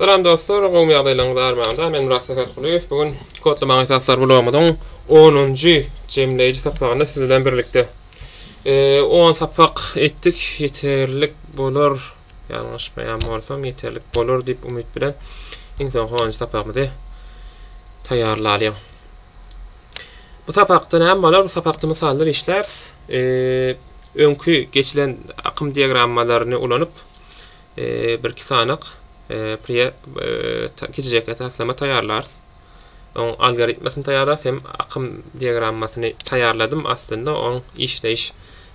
Salam dostlar, gowmy ýagdaýlaryňyz armanda, men Murad Sähetgulyýew, bu gün Kodlamaň esaslary blogumyzyň onunjy jemleýji sapagyny siz bilen birlikde on sapak etdik, ýeterlik bolar, ýalňyşmaýan bolsam ýeterlik bolar diýip umyt bilen iň soňky onunjy sapagymyzy taýýarlalyň. Bu sapakda näme bolar, bu sapakda mysallar işläris, öňki geçilen akym diagrammalaryny ulanyp Birki sanak pre kiçijekge taslama taýýarlarys. Oň algoritmasyny taýýarlarys hem akym diagrammasyny taýýarladym aslynda oň işleýiş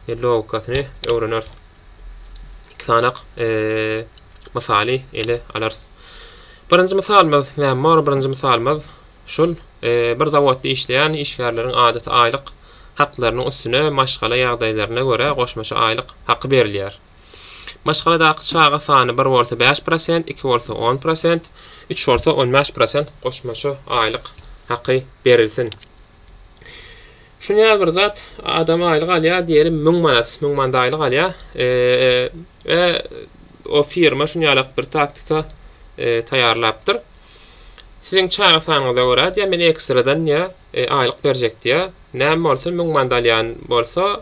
logikasyny öwreneris. Iki sanak mysaly ele alarys. Birinji mysalymyz näme bor? Birinji mysalymyz şul bir zawodda işleýän işgärleriň adaty aýlyk haklarynyň üstüne maşgala ýagdaýlaryna görä goşmaça aýlyk haky berilýär. Maşgaladaky çaga sany bir bolsa bäş prosent, iki bolsa on prosent, üç bolsa on bäş prosent goşmaça aýlyk haky berilsin. Şuny ýaly bir zat, adam aýlyk alýar diýelim müň manat, müň manat aýlyk alýar we o firma şuny ýalak bir taktika taýýarlapdyr. Siziň çaga sanyňyza görä diýýär, men ekstradan diýýär, aýlyk berjek diýýär. Näme bolsun, müň manat alýan bolsa,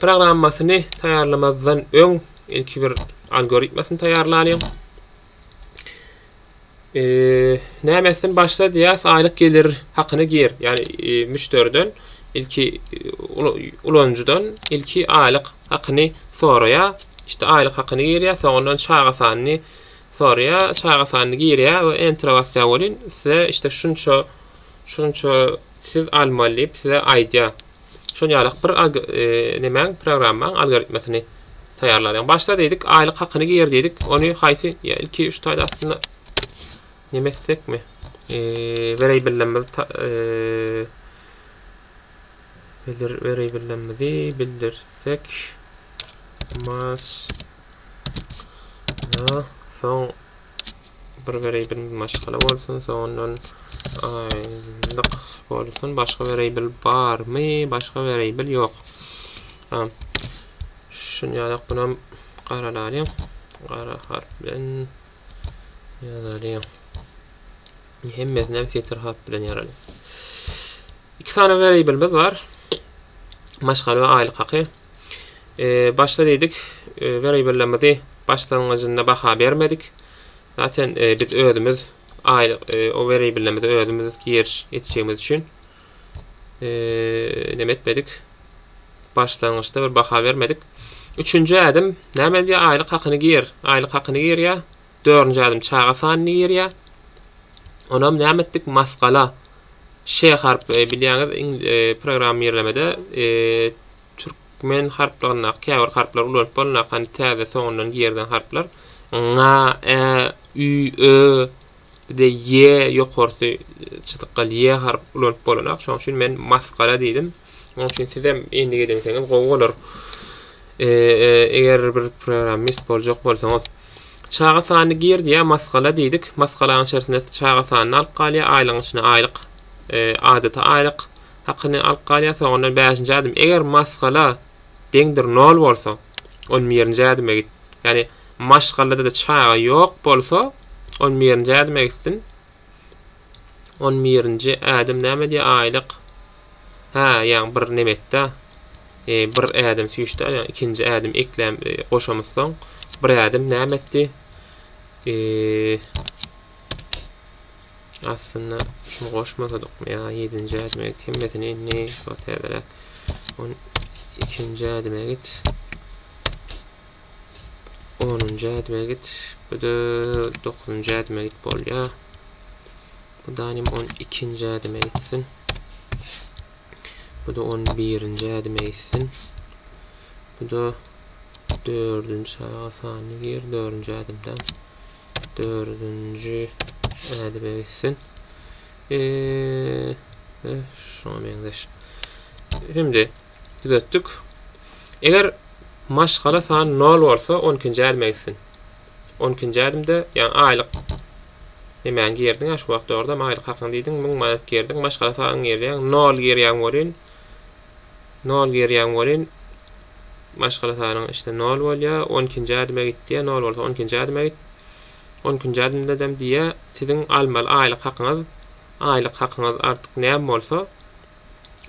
programmasyny taýýarlamazdan öň ilki bir algoritmasyny taýýarlalyň. E, nämetden başla diýýäs, aýlyk gelir hakyny gir. Ýagny e, müşderiden ilki e, ulanyjydan ilki aýlyk hakyny soraýa. İşte aýlyk hakyny girýär, soňundan çaga sanyny soraýar, çaga sanyny girýär we enter basýar welin size işte şunça şunça siz almaly diýip size aýdýar. Şol ýaly bir nemäň programmaň algoritmasyny taýýarlalyň. Başda diýdik aýlyk hakyny gir diýdik. Ony haýsy ilki üç taýda aslynda neme etsekmi? Weriable'imizi bildir weriable'imizi bildirsek mas soň Bir weriýbl maşgala bolsun, soňundan aýlyk bolsun, başga weriýbl barmy? Başga weriýbl ýok. Ha. Şunýalak bunam garalaly. Gara harp bilen ýazaly. Hemmesini setir harp bilen ýazaly. Iki sany weriýblimiz bar. Maşgala we aýlyk haky. Eee başda diýdik eee weribellemidi başlangyjynda baha bermedik. Zaten eee biz özümiz aýlyk eee o weribellemidi özümiz giriş etjegimiz üçin eee näme etmedik. Başlangyçda bir baha bermedik. Üçünji ädim näme diýýär aýlyk hakyny gir. Aýlyk hakyny girýär. Dördünji ädim çaga sanyny ýerýär. Onam näme etdik? Masgala. Ş harpy e, bilýäňiz e, programmirlemede e, türkmen harplaryndaky käbir harplar ulanyp bolunýar. Hani täze soňundan girilen harplar. Ňa, ä, ü, ö, de ýe ýokarsy çyzykgal ýe harp ulanyp bolunýar. Şoň üçin men masgala diýdim. Onuň üçin sizem endik edinseňiz gowy bolar. Eger bir programmist boljak bolsaňyz, çaga sanyny gir diýýär, maskala diýdik. Maskalanyň içerisinde çaga sanyny alyp galýar, aýlygyň içine aýlyk, adaty aýlyk hakyny alyp galýar. Soňundan 5-nji adym, eger maskala deňdir 0 bolsa, on birinji ädime git. Ýagny maşgalada-da çaga ýok bolsa, on birinji ädime gitsin. On birinji ädim näme diýýär? Aýlyk. Hä, ýaň bir neme etdi. E, bir ädim süýşdi, ýaň ikinji ädim ekläm e, goşamyzsoň, bir ädim näme etdi? E, aslynda şunu goşmasadykmy ýa ýedinji ädime git hemmesini indi ýa täzeräk on ikinji ädime git onunjy ädime git. Bu-da dokuzynjy ädime git bolýar. Bu da hem on ikinji ädime gitsin. Bu da on birinji ädime gitsin. Bu da dördünjü saga sanyny gir, dördünjü ädimden. Dördünjü ädime gitsin. Eee, şuna meňzeş. Şimdi, Düzetdik. Eger maşgala sany nol bolsa, on ikinji ädime gitsin. On ikinji ädimde, ýagny aýlyk nemäňi girdiň-ä şu wagt, dogrudanam aýlyk hakyňy diýdiň, müň manat girdiň, maşgala sanyňy girýäň, nol girýän welin, nol girýän welin, maşgala sanyň içinde nol bolýar, on ikinji ädime git diýýär, nol bolsa on ikinji ädime git. On ikinji ädimdedem diýýär, siziň almaly aýlyk hakyňyz, aýlyk hakyňyz artyk näme bolsa,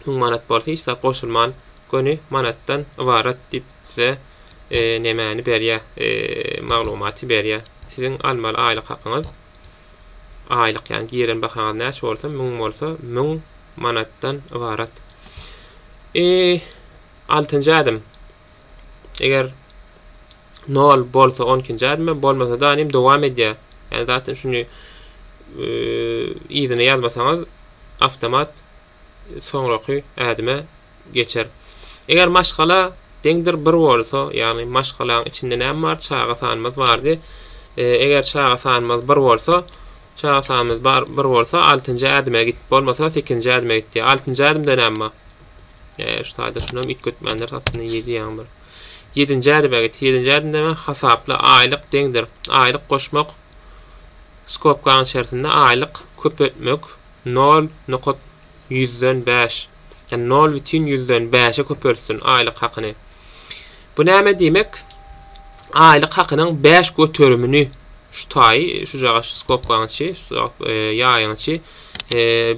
müň manat bolsa hiç zat goşulman göni manatdan ybarat diýip size nemäni berýä maglumaty berýä siziň almaly aýlyk hakyňyz aýlyk ýagny giren bahaňyz näçe bolsa müň bolsa müň manatdan ybarat e altynjy ädim Eger nol bolsa 12-nji ädimem bolmasa da anym dowam edýär. Yani zaten şunu yzyna ýazmasaňyz avtomat soňraky ädime geçer. Eger maşgala deňdir bir bolsa, ýagny maşgalaň içinde näme bar? Çaga sanymyz bardy. E, eger çaga sanymyz bir bolsa, çaga sanymyz bar bir bolsa 6-njy ädime git, bolmasa 8-nji ädime git diýär. 6-njy ädimde näme bar? Ee, şu taýda şunam üýtgetmänler satdyny ýedi ýaň bir. Ýedinji ädime git. Ýedinji ädimde men hasapla aýlyk deňdir. Aýlyk goşmak skobkaň içerisinde aýlyk köpeltmek 0 nokat ýüzden bäş. Ýa 0 bitin ýüzden bäşe köpeltsin aýlyk hakyny. Bu näme diýmek? Aýlyk hakynyň bäş göterimini şu taýy, şujagaz şu skobkaň içi, ýaýyň içi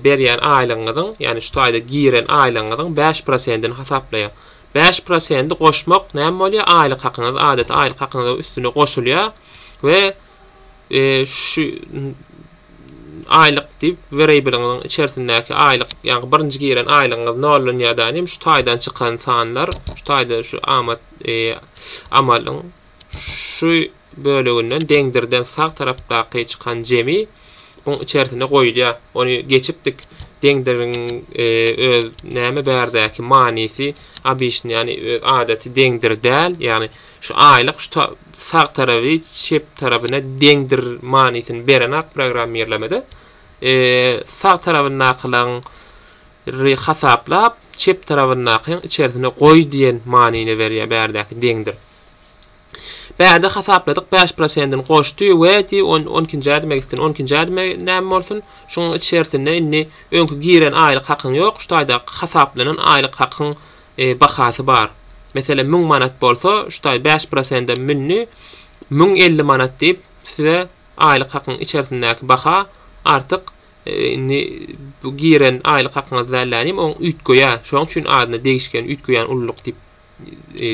berýän aýlygyňyzyň, ýagny şu taýda giren aýlygyňyzyň bäş prosentini hasaplaýar. Bäş prosenti goşmak näme bolýar? Aýlyk hakyňyz, adaty aýlyk hakyňyzyň üstüne goşulýar we e, şu aýlyk diýip wreýbeliňiň içerisindäki aýlyk, ýagny birinji giren aýlygyňyz nollanýar da nim şu taýdan çykan sanlar, şu taýda şu amat e, amalyň şu böleginden deňdirden sag tarapdaky çykan jemi buň içerisine goýulýar. Ony geçipdik. Deňdiriň e, öz näme bärdäki manysy, obýektni, ýagny öz adaty deňdir däl, ýagny Şu aýlyk şu ta sag tarapy çep tarapyna deňdir manysyny berenok programmirlemede. Sag tarapyndakylaň ry hasaplap, çep tarapyndakyň içerisine goý diýen manyny berýär bärdäki deňdir. Bärde hasapladyk bäş prosentini goşdy we di on on ikinji ädime gitsin. On ikinji ädime näme bolsun? Şuň içerisinde indi öňki giren aýlyk hakyň ýok, şu taýdaky hasaplanan aýlyk hakyň bahasy bar. Meselem müň manat bolsa şutaý bäş prosendem mündi müň elli manat diýip size aýlyk hakyň içerisindäki baha artyk indi bu giren aýlyk hakyňyz dällänim oň üýtgeýä şoň üçin adyna degişgen üýtgeýän ululyk diýip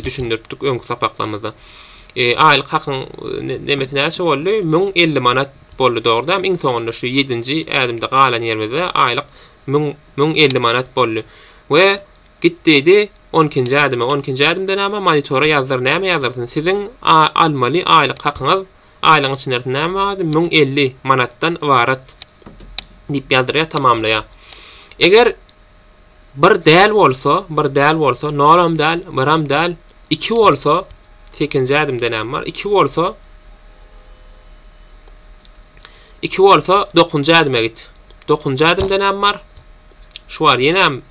düşündiripdik öňki sapaklamyzda aýlyk hakyň nemesi näçe boldy müň elli manat boldy dogry dämi iň soňunda şu ýedinji ädimde galan ýerimizde aýlyk müň elli manat boldy we Git diýdi, on ikinji ädime, on ikinji ädimdenama monitora ýazdyr, näme ýazdyrsyn, siziň a almaly aýlyk hakyňyz, aýlygyň içinde ýarsyn, näme bardy, müň elli manatdan ybarat diýip ýazdyrýar, tamamlaýar. Eger bir däl bolsa, bir däl bolsa, nolam däl, biram däl, iki bolsa, sekinji ädimde näme bar, iki bolsa, iki bolsa, dokuzynjy ädime git. Dokuzynjy ädimde näme bar? Şu bar, ýenem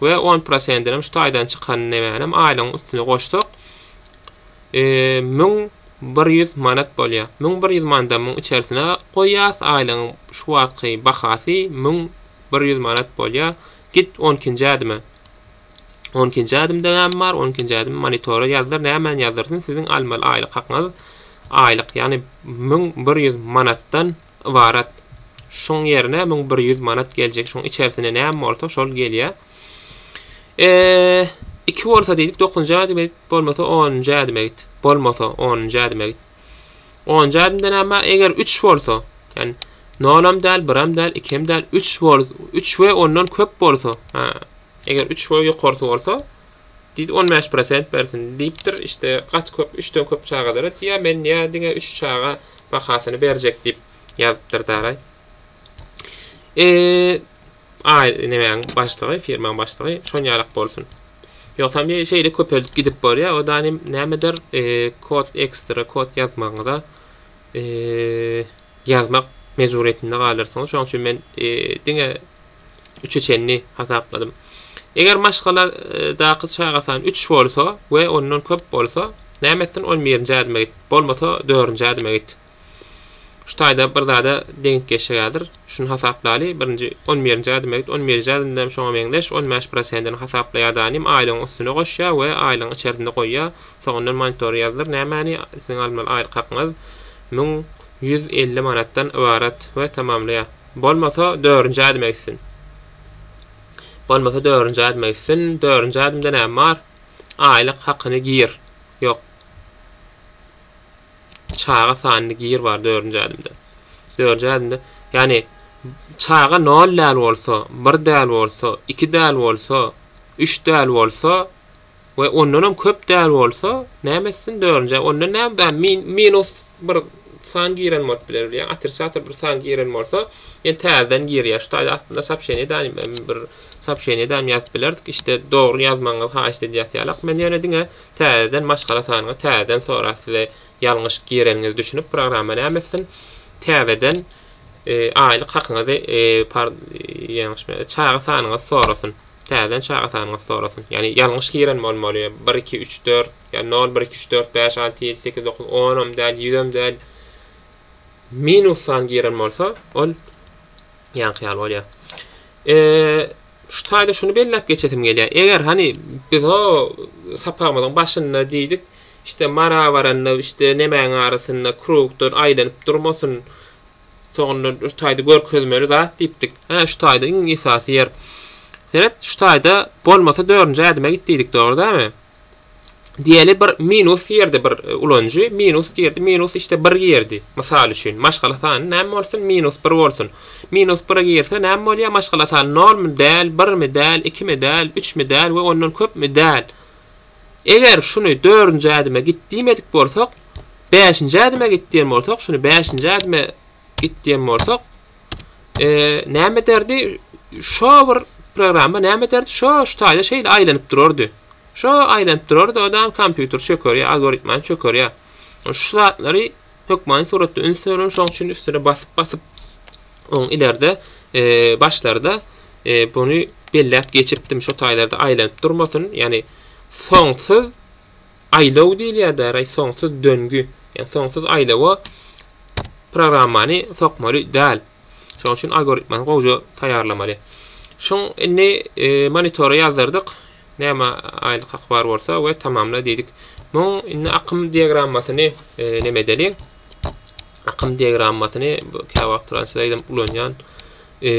we on prosentinem şu taýdan çykan nemänem aýlygyň üstüne goşsak, müň bir ýüz manat bolýar. Müň bir ýüz manadamyň içerisine goýýas, aýlygyň şu wagtky bahasy müň bir ýüz manat bolýar. Git on ikinji ädime. On ikinji ädimde näme bar? On ikinji ädim monitora ýazdyr, nämäni ýazdyrsyn? Siziň almaly aýlyk hakyňyz aýlyk, ýagny müň bir ýüz manatdan ybarat. Şuň ýerine müň bir ýüz manat geljek. Şuň içersinde näme bolsa şol gelýär. E, iki bolsa diýdik, dokuzynjy ädim edip, bolmasa onunjy ädim edip. Bolmasa onunjy ädim edip. Onunjy ädimde näme? Eger üç bolsa, ýani nol hem däl, bir hem däl, iki hem däl, üç bol, üç we ondan köp bolsa, ha, eger üç we ýokarsy bolsa, Diýdi, On bäş prosent bersin, diýipdir. Işte, gaty köp, üçden köp çagalara diýýär. Men ýa diňe üç çaga bahasyny berjek diýip ýazypdyr daraý. E, aý, nemäň başlygy, firmaň başlygy, şon ýalak bolsun. Ýogsam ýe şeýle köpeldip gidip borýar. O da nim, nämedir, e, kod ekstra kod ýazmagyňyza e, ýazmak mejburyýetinde galarsyňyz. Şoň üçin men e, diňe Üçe çenli hasapladym. Eger maşgaladaky çaga sany üç bolsa we ondan köp bolsa, näme etsin, on birinji ädime git, bolmasa dördünji ädime git. Şu taýda bir zada deňik geçjek häzir. Şuny hasaplaly, birinji, on birinji ädime git, on birinji ädimde hem şoňa meňzeş on bäş prosentini hasaplaýar danym, aýlygyň üstüne goşýar we aýlygyň içerisinde goýýar. Soňundan monitora ýazdyr, nämäni siziň almaly aýlyk hakyňyz müň ýüz elli manatdan ybarat we tamamlaýar. Bolmasa dördünji ädim egsin. Bolmasa dördünji ädim egsin. Dördünji ädimde näme bar? Aýlyk hakyny gir. Ýok. Çaga sanyny gir bar dördünji ädimde. Dördünji ädimde, ýagny çaga nol däl bolsa, bir däl bolsa, iki däl bolsa, üç däl bolsa, we ondanam köp däl bolsa näme etsin dörünjä onda näme bär min minus bir san giren bolup biler ýa otrisator bir san giren bolsa ýene täzeden girýär şu taýda astynda soobşeniýa edäýin men bir soobşeniýa edäýin ýazyp bilerdik işte dogry ýazmagyňyzy haýyşt edýäs ýalak men ýöne diňe täzeden maşgala sanyňy täzeden sorar size ýalňyş gireniňizi düşünip programma näme etsin täzeden aýlyk hakyňyzy par ýalňyş çaga sanyňyzy sorasyn. Täzeden çaga sanyňyzy sorasyn. Ýagny ýalňyş giren bolmaly. Bir, iki, üç, dört, ýa nol, bir, iki, üç, dört, bäş, alty, ýedi, sekiz, dokuz, onam däl, ýüzem däl. Minus san giren bolsa, ol ýaňky ýaly bolýar. Eee şu taýda şuny belläp geçesim gelýär. Eger hani biz o sapagymyzyň başynda diýdik, işte mara baranda işte nemäň arasynda krugdan aýlanyp durmasyn. Soňunda şu taýda görkezmeli zat diýipdik. Hä, şu taýda iň esasy ýer. Seret, şu taýda bolmasa dördünji ädime git diýdik, dogry dälmi? Diýeli bir minus girdi bir e, ulanyjy, minus girdi, minus işte bir girdi. Mysal üçin, maşgala sany näme bolsun? Minus bir bolsun. Minus bire girse näme bolýar? Maşgala sany nolmy däl, birmi däl, ikimi däl, üçmi däl we ondan köpmi däl. Eger şuny dördünji ädime git diýmedik bolsak, bäşinji ädime git diýen bolsak, şuny bäşinji ädime git diýen bolsak, näme ederdi? Şo bir programma näme ederdi? Şo şu taýda şeýle aýlanyp durardy. Şo aýlanyp durardy, ondan kompýuter çökerýär, algoritmany çökerýär. Şu zatlary Hökmany suratda üns berilen şoň üçin üstüne basyp basyp oň ilerde başlarda buny belläp geçipdim şo taýlarda aýlanyp durmasyn ýani soňsuz aýlaw diýilýär däraý soňsuz döngü ýa soňsuz aýlawa programmany sokmaly däl Şonuň üçin algoritmany gowja taýýarlamaly. Şun indi e, monitora ýazdyrdyk. Näme aýlyk haky bar bolsa we tamamla diýdik. Muň indi akym diagrammasyny e, näme edeliň? Akym diagrammasyny käwagt wagt translaýdym ulanýan. E,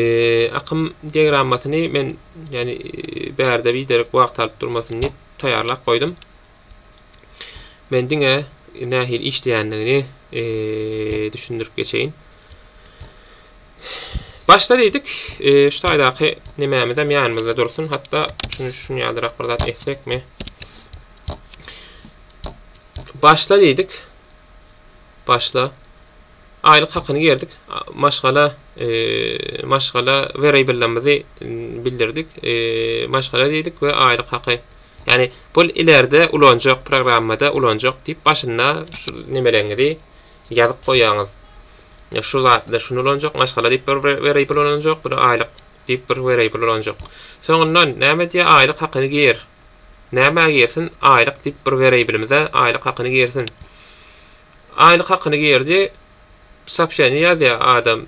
akym diagrammasyny men ýani e, bärde biderek wagt alyp durmasyn diýip taýýarlap goýdum. Men diňe nähili işleýändigini e, düşündirip geçeýin. Başda diýdik, e, şu taýdaky nemämiz hem ýanymyzda dursun. Hatda şuny şuny ýalyrak bir zat etsekmi? Başla diýdik. Başla. Aýlyk hakyny gerdik. Maşgala e, maşgala variable'imizi bildirdik. E, maşgala diýdik we aýlyk haky Ýagny bul ileride ulanjak programmada ulanjak diýip başynda şu nemeleňizi ýazyp goýýaňyz. Şu zatda şuny ulanjak, maşgala diýip bir wariable ulanjak, bir aýlyk diýip bir wariable ulanjak. Soňundan näme diýýär aýlyk hakyny gir. Nämä girsin aýlyk diýip bir wariable-mize aýlyk hakyny girsin. Aýlyk hakyny girdi sopşeni ýazýa adam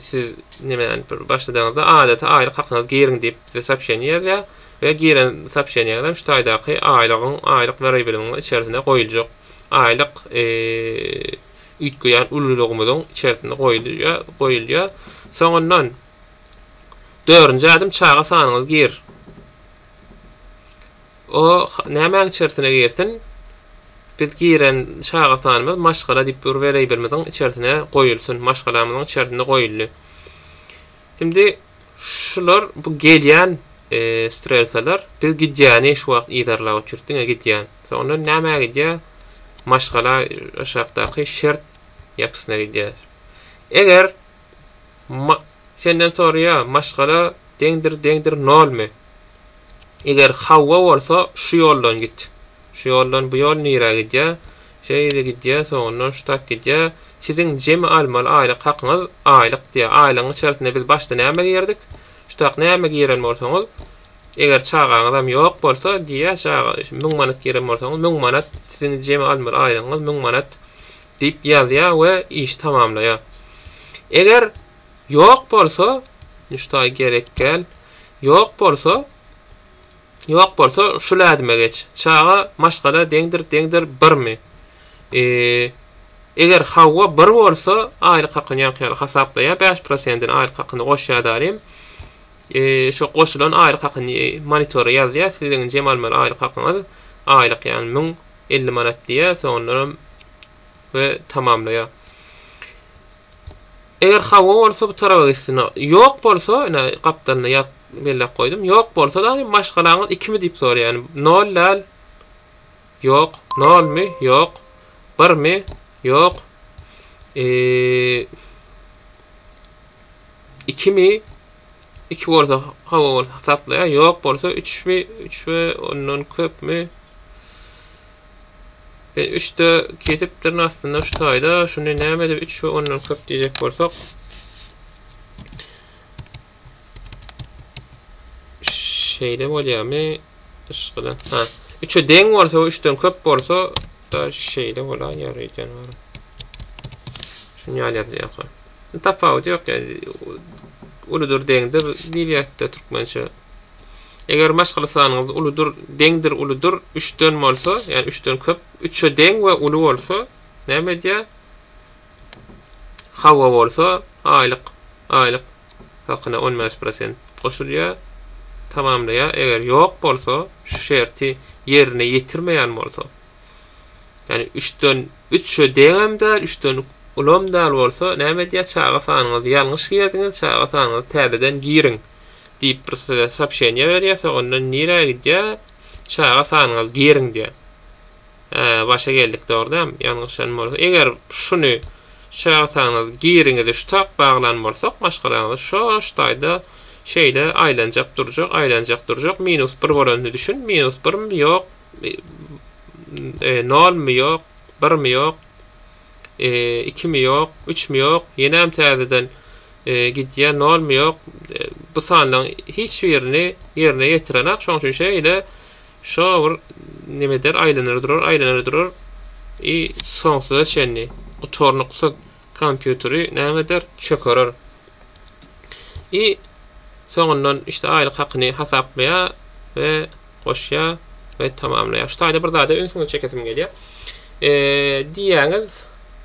siz nimäni bir başladaňyzda adaty aýlyk hakyňyzy giriň diýip bize sopşeni ýazýa we giren sopşeniňizem şu taýdaky aýlygyň aýlyk wariabilimiň içerisine goýuljak aýlyk üýtgeýän ululygymyzyň içerisine goýulýa goýulýa soňundan dördünji ädim çaga sanyňyzy gir O nämäň içersine girsin, biz giren çaga sanymyz maşgala diýip bir wereýbelmiziň içersine goýulsyn, maşgalamyzyň içersinde goýuldy. Indi şular bu gelýän strelkalar biz gidýäni şu wagt yzarlap otyrys, diňe gidýän. Soňra nämä gidýär? Maşgala aşakdaky şert ýapysyna gidýär. Eger Senden soraýa, maşgala deňdir deňdir nolmi? Eger hawa bolsa şu ýoldan git. Şu ýoldan bu ýol nirä gidýä? Şeýle gidýä, soňundan şu tak gidýä. Siziň jemi almaly aýlyk hakyňyz aýlyk diýä. Aýlygyň içerisinde biz başda näme girdik? Şu tak näme giren bolsaňyz, eger çagaňyzam ýok bolsa diýä, çaga, müň manat giren bolsaňyz, müň manat siziň jemi almaly aýlygyňyz müň manat. diýip ýazýar we işi tamamlaýar. Eger ýok bolsa, Nüştaý gerek gel, ýok bolsa, ýok bolsa şul ädime geç, Çaga maşgala deňdir, deňdir birmi? E, eger hawa bir bolsa, aýlyk hakyny ýaňky ýaly hasaplaýar, bäş prosendini aýlyk hakyna goşýar daýym. E, şo goşulan aýlyk hakyny monitora ýazýar, siziň jem almaly aýlyk hakyňyz aýlyk ýagny müň 50 manat diýýär, soňundanam we tamamlaýar. Eger hawa bolsa bu taraba gitsin. Ýok bolsa, ine gapdalyna ýaz belläp goýdum. Ýok bolsa da maşgalaňyz ikimi diýip soraýar. Ýani nol däl. Ýok. Nolmy? Ýok. Birmi? Ýok. Eee ikimi? iki bolsa hawa bolsa hasaplaýar, ýok bolsa üçmi, üç we ondan köpmi, biz üçde kesipdirin aslynda şu taýda, şuny näme edip üç we ondan köp diýjek bolsak, şeýle bolýarmy, yşgala, ha, üçe deň bolsa we üçden köp bolsa, da şeýle bolar, ýary, janawar. Şuny ýaly ýazýarka. Tapawudy ýok ýaly. Uludyr, deňdir diýilýärdi-de türkmençe. Eger maşgala sanyňyz uludyr, deňdir, uludyr, üçden bolsa, ýagny üçden köp, üçe deň we uly bolsa, näme edýär? Hawa bolsa, aýlyk, aýlyk hakyna on bäş prosent goşulýar, tamamlaýar. Eger ýok bolsa, şu şerti ýerine ýetirmeýän bolsa, Ýani üçden üçe deňem däl, üçden ulam däl bolsa näme edýär, çaga sanyňyzy ýalňyş girdiňiz, çaga sanyňyzy täzeden giriň diýip bir size sopşeniýe berýär, soňundan nirä gidýär, çaga sanyňyzy giriň diýýär. Hä, başa geldik dogry däm, ýalňyşan bolsa, eger şuny şu çaga sanyňyzy giriňizi şu tak baglan bolsak maşgalaňyzy şo ştaýda şeýle aýlanjak durjak, aýlanjak durjak, minus bir bolanyny düşün, minus birm ýok, Nol mi ýok, bir mi ýok, iki mi ýok, üç mi ýok, ýenem täzeden gidýär, nol mi ýok. Bu sanlaryň hiç birini ýerine ýetirenak, şoň üçin şeýle şo bir neme eder, aýlanar durar, aýlanar durar. I soňsuza çenli gutarnyksyz kompýuteri näme eder, çökerer. I soňundan işte aýlyk hakyny hasaplaýar we goşýar we tamamlaýar. Şu taýda bir zada ünsüňizi çekesim gelýär. E, diýýäňiz,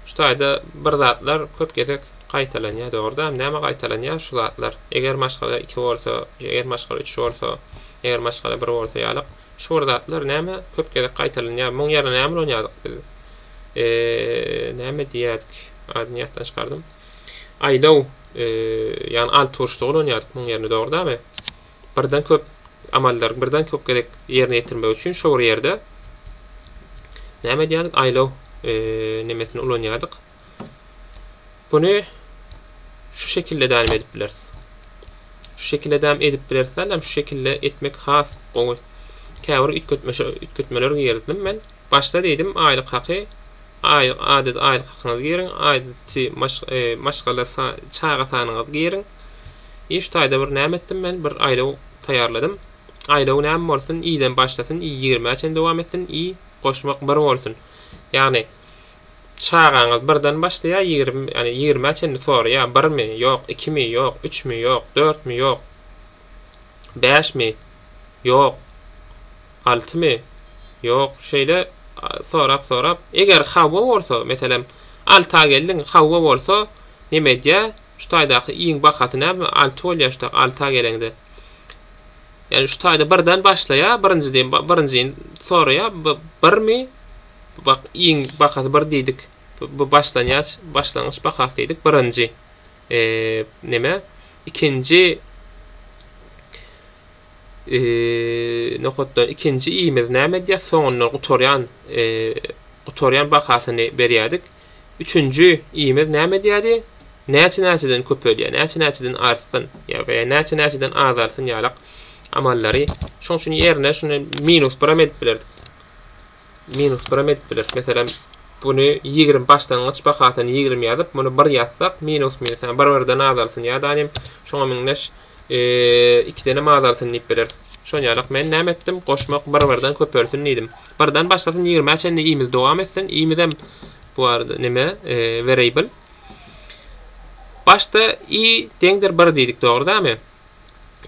şu taýda bir zatlar köp gezek gaýtalanýar, dogruda. Näme gaýtalanýar şu zatlar? Eger maşgala iki bolsa, eger maşgala üç bolsa, eger maşgala bir bolsa ýalyk. Şu bir zatlar näme köp gezek gaýtalanýar? Muň ýerine näme ulanýardyk biz? E, näme diýýärdik? Adyny ýatdan çykardym. Aýdaw, ýagny alty burçda ulanýardyk muň ýerine dogry-damy? Birden köp amallary birden köp gezek ýerine ýetirmek üçin şo bir ýerde näme edýärdik? Aýdaw nemesini ulanýardyk. Buny şu şekilde dälim edip bileris. Şu şekilde dälim edip bileris däl, şu şekilde etmek has gowy. Käbir üýtgetmeşe üýtgetmeler girdim men. Başda diýdim aýlyk haky aýlyk adyda aýlyk hakyňyzy giriň aýdyty maşgala çaga sanyňyzy giriň i şu taýda bir näme etdim men bir aýlaw taýýarladym aýlawy näme bolsun iden başlasyn i ýigrimä çen dowam etsin i goşmak bir bolsun ýagny çagaňyz birden başlaýa ýagny ýigrimä çenli soraýa birmi ýok ikimi ýok üçmi ýok dörtmi ýok bäşmi ýok Altymy? Ýok, şeýle sorap-sorap, eger hawa bolsa, meselem, alty aý geldiň, hawa bolsa, neme edýä, şu taýdaky iýiň bahasy näme, alty bolýa şutak, alty aý geleňde. Ýani şu taýda birden başlaýa, birinji diýen, birinjini soraýa, bu birmi, bak, iýiň bahasy bir diýdik, bu başlanýaç, başlangyç bahasy diýdik, birinji, eee, neme, ikinji, nokatdan ikinji imiz näme edýär soňundan gutarýan gutarýan bahasyny berýärdik üçünji imiz näme edýärdi näçe näçeden köpelýär näçe näçeden artsyn ýa we näçe näçeden azarsyn ýalak amallary şoň üçin ýerine şuny minus biram edip bilerdik minus biram edip bileris. Meselem, buny ýigrimi başlangyç bahasyny ýigrimi ýazyp, muny bir ýazsak, minus minus, ýagny bir-birden azalsyn ýa-da nim şoňa meňzeş ikidenem azalsyn diýip bileris. Şol ýalak men näme etdim? Goşmak bir-birden köpelsin diýdim. Birden başlasyn ýigrimä çenli i-miz dowam etsin. I-mizem bu arada neme, variable. Başda i deňdir bir diýdik, dogry dämi?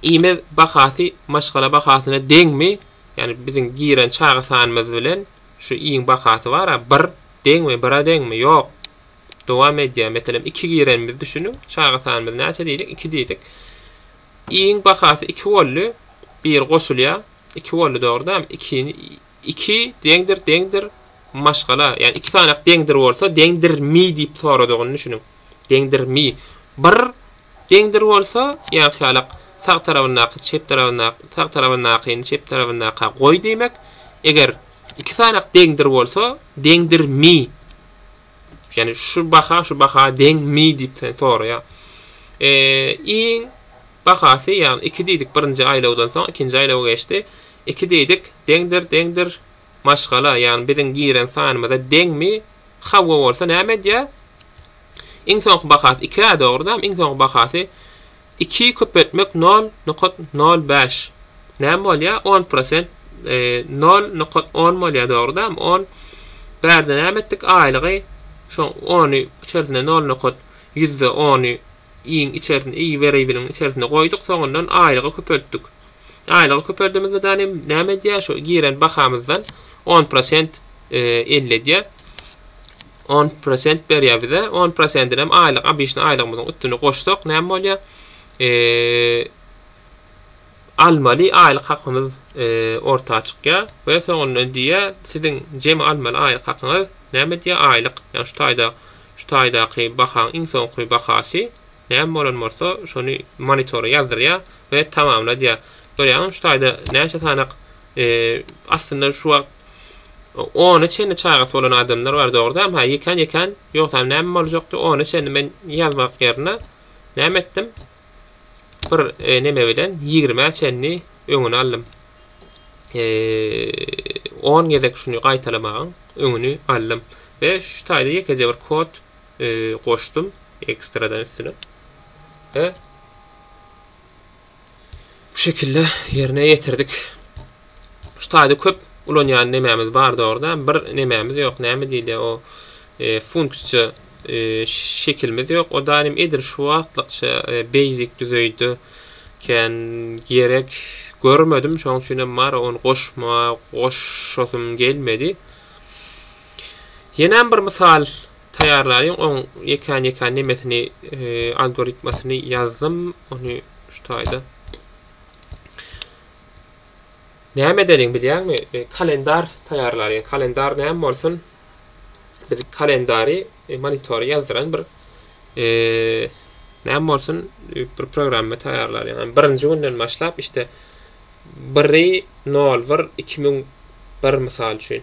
I-miz bahasy maşgala bahasyna deňmi? Ýani biziň giren çaga sanymyz bilen şu iň bahasy bara bir deňmi bira deňmi ýok dowam edýär meselem iki girenimizi düşüniň çaga sanymyz näçe diýdik iki diýdik iň bahasy iki boldy bir goşulýar iki boldy dogry dämi iki iki deňdir deňdir maşgala ýani iki sanak deňdir bolsa deňdirmi diýip soradygyny düşüniň deňdirmi bir Deňdir bolsa, ýagşalyk, sag tarabyndaky çep tarabyndaky, sag tarabyndakyny çep tarabyndaka goý diýmek. Eger iki sanak deňdir bolsa, deňdirmi? Ýagny şu baha şu baha deňmi diýip sen soraýar. Eee, iň bahasy, ýagny iki diýdik birinji aýlawdan soň ikinji aýlawa geçdi. Iki diýdik, deňdir, deňdir, maşgala, ýagny biziň giren sanymyza deňmi? Hawa bolsa näme edýär? Iň soňky bahasy iki-ä dogry-dam iň soňky bahasy iki köpeltmek nol nokat nol bäş näme bolýa on prosent nol nokat on bolýa dogry-dam on bärde näme etdik aýlygy şo ony içersine nol nokat ýüzde ony iň içersine i weriýbiliň içersine goýduk soňundan aýlygy köpeltdik aýlygy köpeldimizde däne näme edýä şo giren bahamyzdan on prosent elli edýä. On prosent berýär bize. On prosentinem aýlyk obişni aýlygymyzyň üstüne goşsak näme bolýar? Almaly aýlyk hakymyz orta çykýar we soňundan diýýär, siziň jemi almaly aýlyk hakyňyz näme diýýär? Aýlyk, ýagny şu taýda şu taýdaky bahaň iň soňky bahasy näme bolan bolsa, şony monitora ýazdyrýar we tamamla diýýär. Görýäňizmi şu taýda näçe sanak aslynda şu wagt Ona çenli çagasy bolan adamlar bar dogrudanam ha ýekan ýekan ýogsam näme boljakdy ona çenli men ýazmak ýerine näme etdim bir e, neme bilen ýigrime çenli öňüni aldym e, on gezek şuny gaýtalamagyň öňüni aldym we şu taýda ýekeje bir kod e, goşdum ekstradan üstüne we Bu şekilde ýerine ýetirdik. Şu taýda köp ulanýan nemämiz bar dogruda, bir nemämiz ýok, näme diýilýär o e, funksiýa e, şekilimiz ýok. O daýym edil şu wagtlykça e, basic düzeýde kän gerek görmedim, şoň üçin hem mara ony goşma, goşasym gelmedi. Ýenem bir mysal Taýýarlaýyň oň ýekän ýekän nemesini algoritmasyny ýazdym ony şu taýda. Näme edeliň bilýäňmi kalendar taýýarlalyň kalendar näme bolsun biz kalendary monitory ýazdyran bir näme bolsun bir programma taýýarlalyň hem birinji günden başlap işte biri nol bir iki müň bir mysal üçin.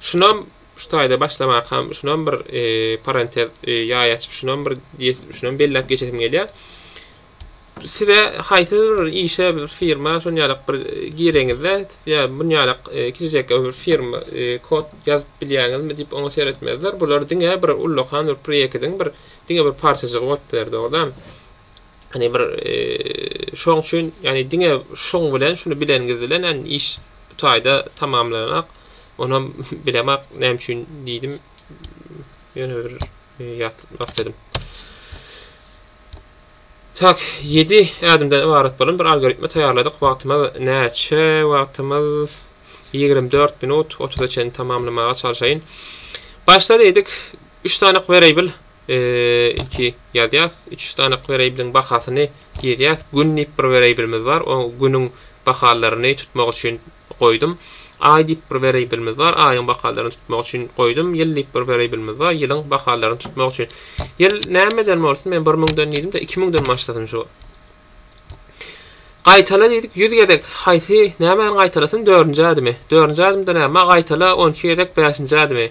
Şunam şu taýda başlamakam şunam bir parantez ýaý açyp şunam bir şunam belläp geçesim gelýär. Size haýsydyr bir işe bir firma şon ýalak bir gireňizde ýa bun ýalak kiçijek bir firma kod ýazyp bilýäňizmi diýip oňa seretmezler. Bular diňe bir ullakan bir proýektiň bir diňe bir parçajygy bolup biler dogrudanam. Hani bir şoň üçin yani diňe şoň bilen şuny bilengiz bilen yani iş bu taýda tamamlanak. Onam bilemak näme üçin diýdim. Ýöne bir ýatlatmak istedim. Tak 7 ädimden ybarat bolan bir algoritmi taýýarladyk. Wagtymyz näçe? Wagtymyz 24 minut 30-a çenli tamamlamaga çalşaýyn. Başda diýdik 3 sany variable Iki ýazýas. Üç sanyk werýablyň bahasyny girýäs. Gün diýip bir werýablymyz bar. O günüň bahalaryny tutmak üçin goýdum. Aý diýip bir werýablymyz bar. Aýyň bahalaryny tutmak üçin goýdum. Ýyl diýip bir werýablymyz bar. Ýylyň bahalaryny tutmak üçin. Ýyl nämeden bolsun? Men bir müňden diýdim-de, iki müňden başlasyn şu. Gaýtala diýdik, ýüz gezek. Haýsy, nämäniň gaýtalasyn? Dördünji ädimi. Dördünji ädimde näme? Gaýtala on iki gezek bäşinji ädimi.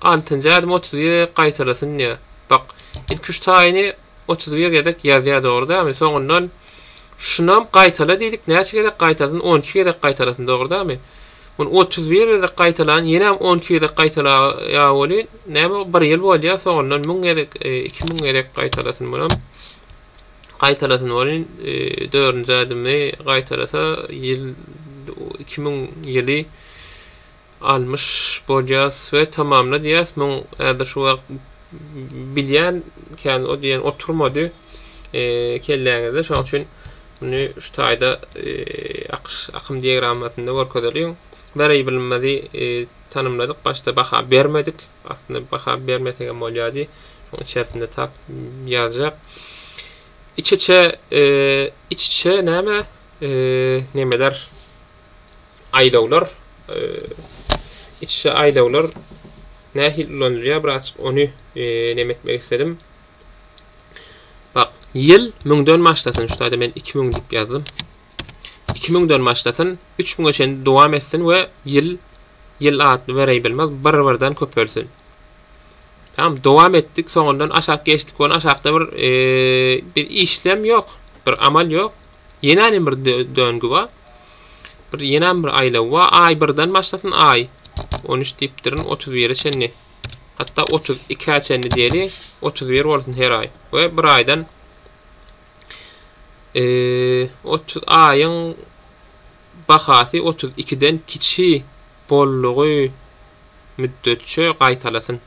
Altynjy ädim otuz bir gezek gaýtalasyn diýýär. Bak, ilki üç taýyny otuz bir gezek ýazýar dogry dälmi? Soňundan şunam gaýtala diýdik, näçe gezek gaýtalsyn? On iki gezek gaýtalasyn dogry dälmi? Muny otuz bir gezek gaýtalan, ýenem on iki gezek gaýtalaýar welin, näme bir ýyl bolýar, soňundan müň gezek, iki müň gezek gaýtalasyn munam. Gaýtalasyn welin, dördünji ädimi gaýtalasa ýyl iki müň ýyly. Almyş bolýas we tamamla diýýäs muň häzir şu wagt bilýän kän o diýen oturmady kelläňizde şoň üçin muny şu taýda akyş akym diagrammasynda görkezeliň wariablemyzy tanymladyk başda baha bermedik aslynda baha bermesegem bolýady şoň içersinde tap ýazjak iç içe iç içe näme nemeler aýlawlar içişe aýlawlar nähili ulanylýar birazçyk ony neme etmek istedim. Bak ýyl 1000-den başlasyn şu taýda men 2000 diýip ýazdym. 2000-den başlasyn 3000-e çenli dowam etsin we ýyl ýyl atly variable'miz bir-birden köpelsin. Tamam, dowam etdik. Soňundan aşak geçdik. Ony aşakda bir e, bir işlem ýok, bir amal ýok. Ýenänem bir döngi bar. Bir ýenäm bir aýlaw bar. Aý birden başlasyn, aý. 13 diýipdirin, 31-e çenli. Hatda 32-ä çenli diýeli, 31 bolsun her aý. We bir aýdan e, 30 aýyň bahasy 32-den kiçi bollugy müddetçe gaýtalasyn.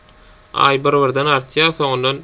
Aý bir-birden artýar, soňundan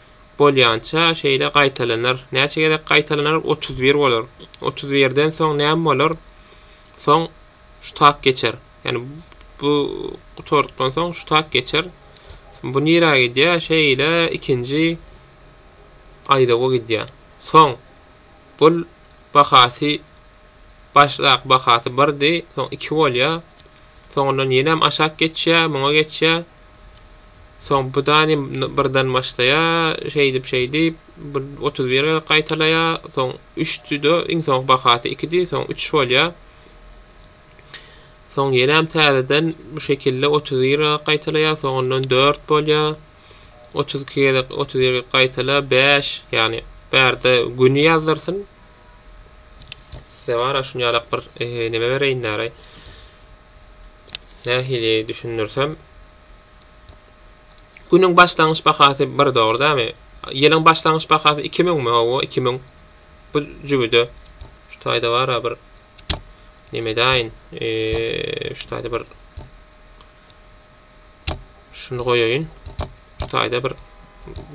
Bolýança şeýle gaýtalanar. Näçe gezek gaýtalanar? Otuz bir bolar. Otuz birden soň näme bolar? Soň şu tak geçer. Ýagny bu gutardykdan soň şu tak geçer. Bu nirä gidýär? Şeýle ikinji aýlawa gidýär. Soň bul bahasy başdaky bahasy birdi, soň iki bolýar. Soňundan ýenem aşak geçýär, muňa geçýär. Soň bu dany birden başlaýar, şeýdip-şeýdip, bir otuz bir gezek gaýtalaýar, soň üçdi-de, iň soňky bahasy ikidi, soň üç bolýar. Soň ýenem täzeden bu şekilde otuz bir gezek gaýtalaýar, soňundan dört bolýar. Otuz iki gezek, otuz bir gezek gaýtala, bäş, ýagny bärde güni ýazdyrsyn. Size bara şuny ýalak bir neme bereýin näraý. Nähili düşündirsem. Günüň başlangyç bahasy 1 dogry dämi? Ýylyň başlangyç bahasy 2000 mi? Hawa 2000. Bu jübüde şu taýda bar ha bir neme daýyn. Eee şu taýda bir şunu goýaýyn. Şu taýda bir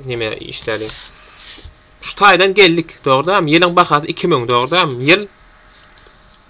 neme işläli. Şu taýdan geldik, dogry dämi? Ýylyň bahasy 2000, dogry dämi? Ýyl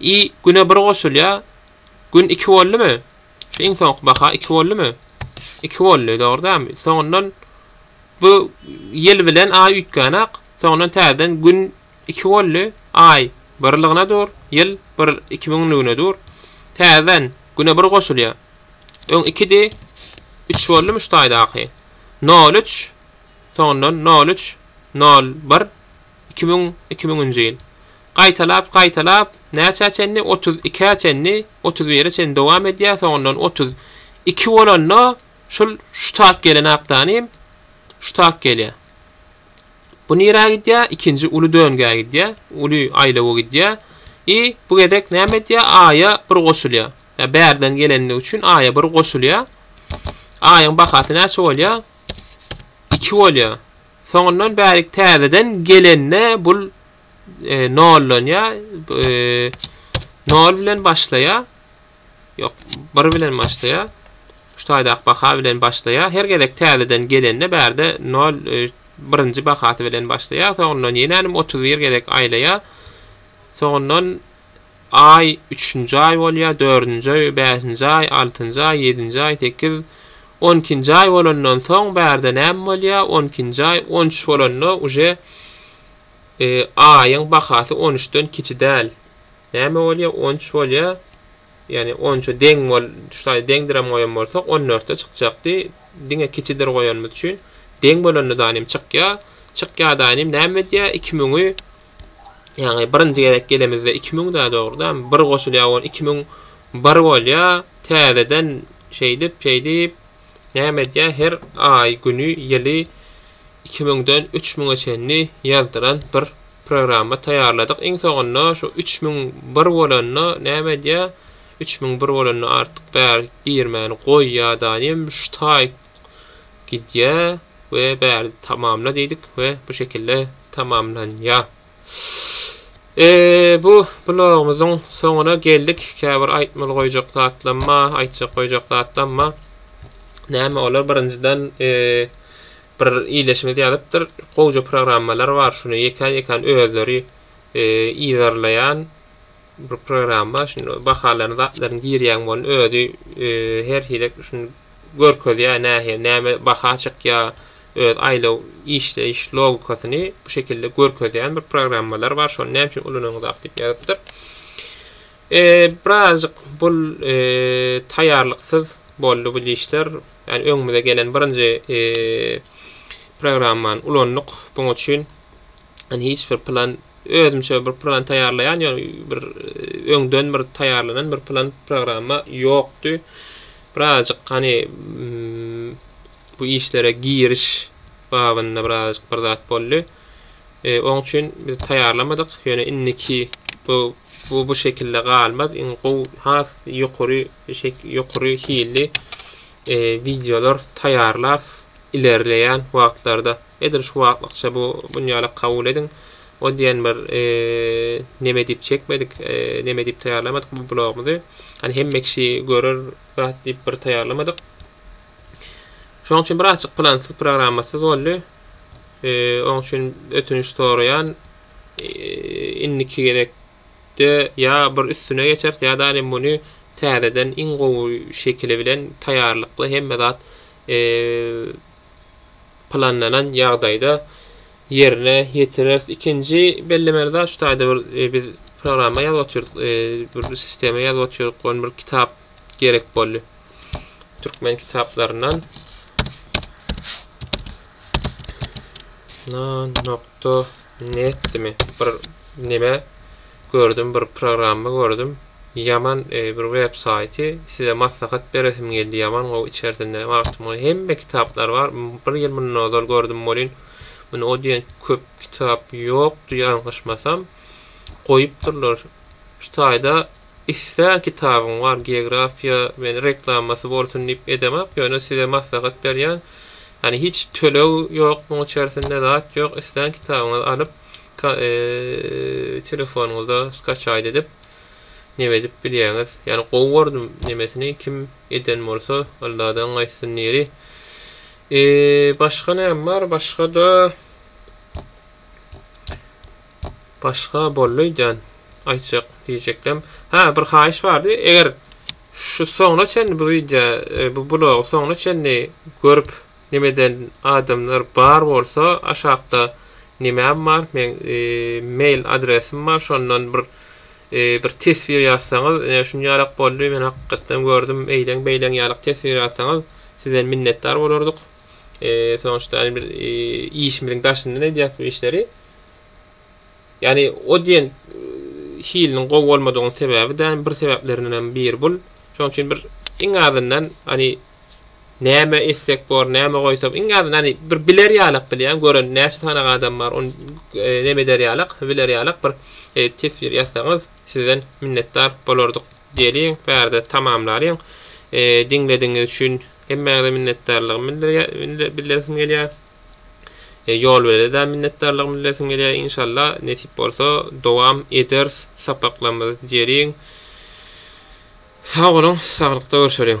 I güne bir goşulýar. Gün iki boldumy? Şu iň soňky baha iki boldumy? Iki boldy, dogry dälmi? Soňundan bu ýyl bilen aý üýtgänok. Soňundan täzeden gün iki boldy. Aý birligine dur, ýyl bir iki müňlügine dur. Täzeden güne bir goşulýar. Öň ikidi, üç boldumy şu taýdaky? Nol üç, soňundan nol üç, nol bir, Iki müň, iki müňünji ýyl. Gaýtalap, gaýtalap, näçä çenli, otuz ikä çenli, otuz bire çenli dowam edýär, soňundan otuz iki bolanda, şul şu tak gelen aptanym, şu tak gelýär. Bu nirä gidýär? Ikinji uly döngä gidýär, uly aýlawa gidýär. I bu gezek näme edýär? Aýa bir goşulýar. Ýa bärden gelenligi üçin aýa bir goşulýar. Aýyň bahasy näçe bolýar? Iki bolýar. Soňundan bärik täzeden gelende bul nollanýa. Nol bilen başlaýa. Ýok, bir bilen başlaýa. Şu taýdaky baha bilen başlaýa. Her gezek täzeden gelende bärde nol birinji bahasy bilen başlaýa. Soňundan ýene nim otuz bir gezek aýlaýa. Soňundan aý, üçünji aý bolýar, dördünji aý, bäşinji aý, altynjy aý, ýedinji aý, sekiz, on ikinji aý bolandan soň bärde näme bolýar? On ikinji aý, on üç bolanda uje aýyň bahasy on üçden kiçi däl. Näme bolýar? On üç bolýar. Ýagny on üçe deň bol, şulaý deňdirem goýan bolsak, on dörtde çykjakdy. Diňe kiçidir goýanymyz üçin deň bolanda da inim çykýar. Çykýar da inim näme edýär? Iki müňi Ýagny birinji gezek gelemizde iki müň dä dogrudan bir goşulýa on iki müň bir bolýa täzeden şeýdip şeýdip näme edýä her aý güni ýyly iki müňden üç müňe çenli ýazdyran bir programma taýýarladyk iň soňunda şu üç müň bir bolanda näme edýä üç müň bir bolanda artyk bär girmäni goýýa da ýa şu taý gidýä we bärde tamamla diýdik we bu şekilde tamamlanýa. Eee bu blogumyzyň soňuna geldik. Käbir aýtmaly goýjak zatlamma, aýtjak goýjak zatlamma. Näme olar birinjiden eee bir iýleşiňiz ýazypdyr. Gowja programmalar bar şuny ýekän ýekän özleri eee ýerleýän Bir programma şun bahalaryny zatlaryny girýäň bolny özi her hili şun görkezýär nähe näme baha çykýa öz aýlaw işleýiş logikasyny bu şekilde görkezýän bir programmalar bar şony näme üçin ulananyňzak diýip ýazypdyr. Birazjyk bul taýýarlyksyz boldy bul işler ýani öňümize gelen birinji programmany ulandyk buň üçin Hani hiç bir plan özümçe bir plan taýýarlaýan ýa bir öňden bir taýýarlanan bir plan programma ýokdy. Birazjyk hani bu işlere giriş babynda birazjyk bir zat boldy. E, oň üçin biz taýýarlamadyk. Ýöne indiki bu bu bu şekilde galmaz. Iň gowy has ýokary şek ýokary hilli e, videolar taýýarlar ilerleýän wagtlarda. Edil şu wagtlykça bu bunýalak kabul ediň. O diýen bir neme diýip çekmedik, neme diýip taýýarlamadyk bu blogumyzy. Hani hemme kişi görer zat diýip bir taýýarlamadyk. Şonuň üçin birazjyk plansyz, programmasyz boldy. Oň üçin ötünç soraýan. Indiki gezek ýa bir üstüne geçeris ýa-da indi muny täzeden iň gowy şekili bilen taýýarlykly hemme zat planlanan ýagdaýda ýerine ýetireris. Ikinji bellemeli zat şu taýda bir e, biz programma ýazyp otyrdyk, e, bir sistema ýazyp otyrdyk, gon bir kitap gerek boldy. Türkmen kitaplaryndan na nokta net dimi bir neme Gördüm bir programma gördüm ýaman bir web saýty size maslahat beresim geldi ýaman gowy içersinde magtymguly hemme kitaplary bar bir ýyl mundan ozal gördüm welin muny o diýen köp kitap ýokdy ýalňyşmasam goýupdyrlar şu taýda islän kitabyň bar geografiýa men reklamasy bolsun diýip edemok ýöne size maslahat berýän ýani hiç töleg ýok muň içersinde zat ýok islän kitabyňyzy alyp Telefonyňyza skaçaýt edip neme edip bilýäňiz. Ýani gowy gördüm nemesini kim eden bolsa Alladan gaýtsyn niri. Eee başga näme bar başgada Başga boldy öýdýän aýtjak diýjeklem. Hä bir haýyş bardy eger şu soňuna çenli bu wideo bu blogy soňuna çenli görüp Nemeden adamlar bar bolsa aşakda nemem bar meň mail adresim bar şondan bir bir teswir ýazsaňyz ine şunýalak boldy men hakykatdan gördüm eýleň beýleň ýalak teswir ýazsaňyz sizden minnetdar bolardyk soňuşta ýany biz işimiziň daşyndan edýäs bu işleri ýani o diýen hiliniň gowy bolmadygynyň sebäbi däl bir sebäplerindenem biri bul şoň üçin bir iň azyndan ýani Näme etsek bor, näme goýsak, iň azyndan hany bir biler ýalak bilýän, gören näçe sanaga adam bar, ony neme eder ýalak, biler ýalak bir teswir ýazsaňyz, sizden minnetdar bolardyk. Geliň, bärde tamamlalyň. Diňledigiňiz üçin hemmäňize minnetdarlygymy bildiresim gelýär. Ýolwelede-de minnetdarlygymy bildiresim gelýär. Inşalla, nesip bolsa, dowam ederis sapaklarymyzy. Geliň, sag boluň, saglykda görşeliň!